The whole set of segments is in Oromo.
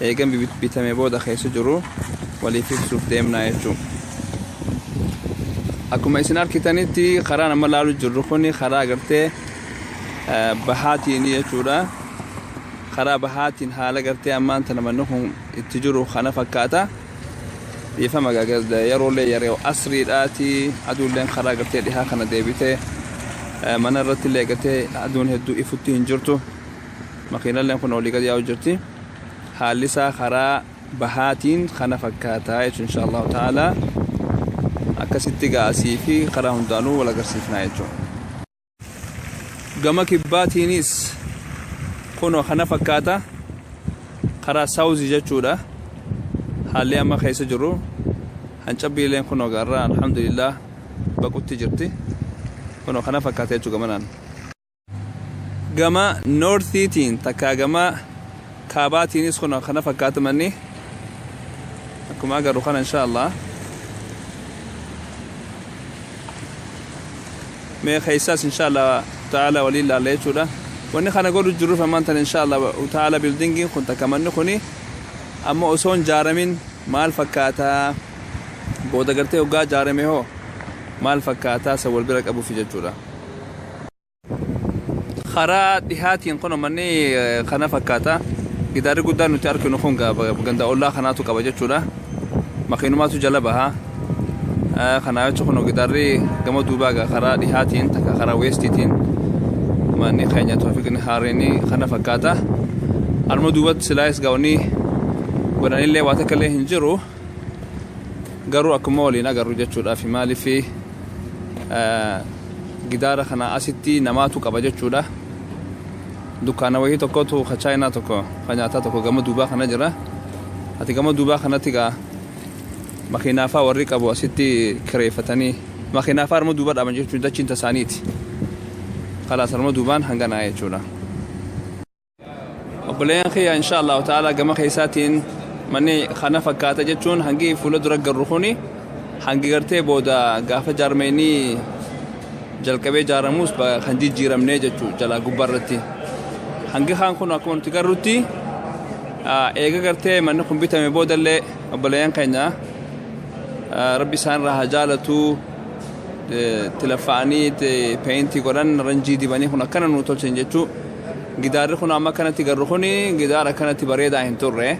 Eega bitamee booda keessa jiru waliif ibsuuf deemna jechuun. Akkuma isin argitanitti karaan amma laalu jirru kun karaa gartee bahaatiin jechuudha. Karaa bahaatiin haala gartee ammaan tana manni kun itti jiru kana fakkaata. Dhiifama gaagazda yeroolee yeroo asriidhaati aduulleen karaa gartee dhihaa kana deebitee mana irratti illee gartee aduun hedduu ifutti hin jirtu. Makiinalleen kun olii gad yaa'u jirti. haallisaa karaa bahaatiin kana fakkaataa jechuun insha Allahu ta'ala akkasitti egaa asii fi karaa hundaanuu wal agarsiifnaa jechuudha. Gama kibbaatiinis kunoo kana fakkaata karaa saawuzii jechuudha haalli amma keessa jiru hancabbiileen kunoo gaarraa alhamdulillah baqutti jirti kunoo kana fakkaata jechuudha gamanaan. gama noortiitiin takkaa gama kaabaatiinis kun kana fakkaata manni akkuma agarru kana insha Allah mee keessaas insha Allah ta'ala waliin laalla jechuudha wanni kana godhu jirruuf ammaan tan insha Allah ta'ala bildingiin kun takka manni kuni amma osoo hin jaaramin maal fakkaata booda gartee hoggaa jaarame hoo maal fakkaataa isa wal bira qabuuf jechuudha. karaa dhihaatiin kun manni kana fakkaata gidaarri guddaan nuti arkinu kun ganda ollaa kanaatu qaba jechuudha makiinumaatu jala baha kanaa jechuun kun gidaarri gama duubaa karaa dhihaatiin takka karaa weestiitiin manni keenya toofiqni haareen kana fakkaata alma duubatti silaayis gaa'onni godhanillee waa takka illee hin jiru. garuu akkuma waliin agarru jechuudhaafi maaliif gidaara kana asitti namaatu qaba jechuudha dukkaana wayii tokkotu ka chaayinaa tokko ka nyaataa tokko gama duubaa kana jira ati gama duubaa kanatti gaa makiinaafaa warri qabu asitti kireeffatanii makiinaafaa arma duuba dhaaban jechuun dachiin tasaaniiti kalaas arma duubaan hanganaa jechuudha. obboleeyyan kiyya insha allahu ta'ala gama keessaatiin manni kana fakkaata jechuun hangi fuula dura garru kuni hangi gartee booda gaafa jaarmeenii jalqabee jaaramuus ba- kan jijjiiramnee jechuu jalaa gubbaa irratti hangi kaan kun akkuma nuti garrutti ah, eega gartee manni kun bitame boodallee obboleeyyan keenya ah, rabbi isaan irraa haa jaalatuu eh, tilafa'anii te- peentii godhan ranjii dibanii kun akkana nuu tolchan jechuu Gidaarri kun amma akkanatti garru kun gidaara akkanatti bareedaa hin turre.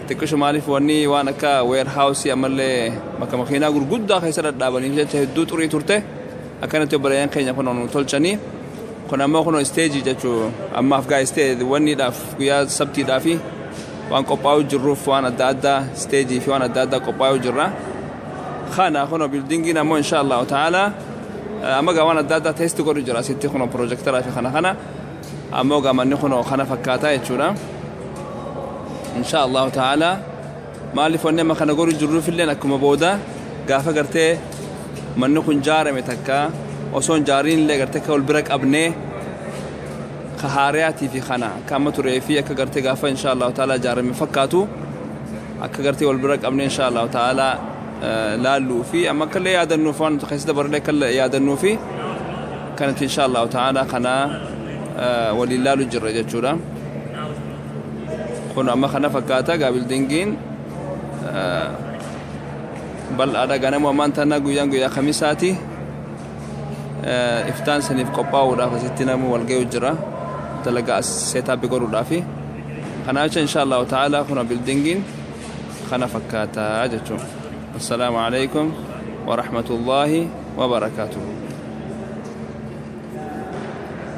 Xiqqisho maaliif wanni waan akka weerhaawusii ammallee bakka makiinaa gurguddaa keessa dhadhaabaniif jecha hedduu xurii turte. Akkanatti obboleeyyan keenya kun nu tolchanii. Kun ammoo kun isteejii jechuu ammaaf gaa istee wanniidhaaf guyyaa sabtiidhaa fi waan qophaa'uu jirruuf waan adda addaa isteejii fi waan adda addaa qophaa'uu jirra. Kana kun bildingiin ammoo inshaa Allahu ta'ala Amma egaa waan adda addaa test godhu jira asitti kunoo pirojektaraa fi kana kana ammoo egaa manni kunoo kana fakkaataa jechuudha. Inshaa Allahu ta'ala maaliif wanni amma kana godhu jirruuf illee akkuma booda gaafa gartee manni kun jaarame takka osoo hin jaariin illee gartee akka wal bira qabnee ka haariyaatii fi kana akka amma turee fi akka gartee gaafa inshaa Allahu ta'ala jaarame fakkaatu akka gartee wal bira qabnee inshaa Allahu ta'aalaa laalluu fi amma akka illee yaadannuuf waan nuti keessa dabarree akka yaadannuu fi kan itti inshaa Allahu ta'aalaa kana waliin laalu jirra jechuudha. Kun amma kana fakkaata egaa bildingiin bal'aadha ganama ammaan tana guyyaan guyyaa kamisaati. iftaan saniif qophaa'uudhaaf asitti namni wal ga'u jira dalagaa as seetaappi godhuudhaafi kanaa jecha insha allahu ta'aalaa kuna bildingiin kana fakkaataa jechuun assalaamu alaikum warahmatullaahi wabarakaatuhu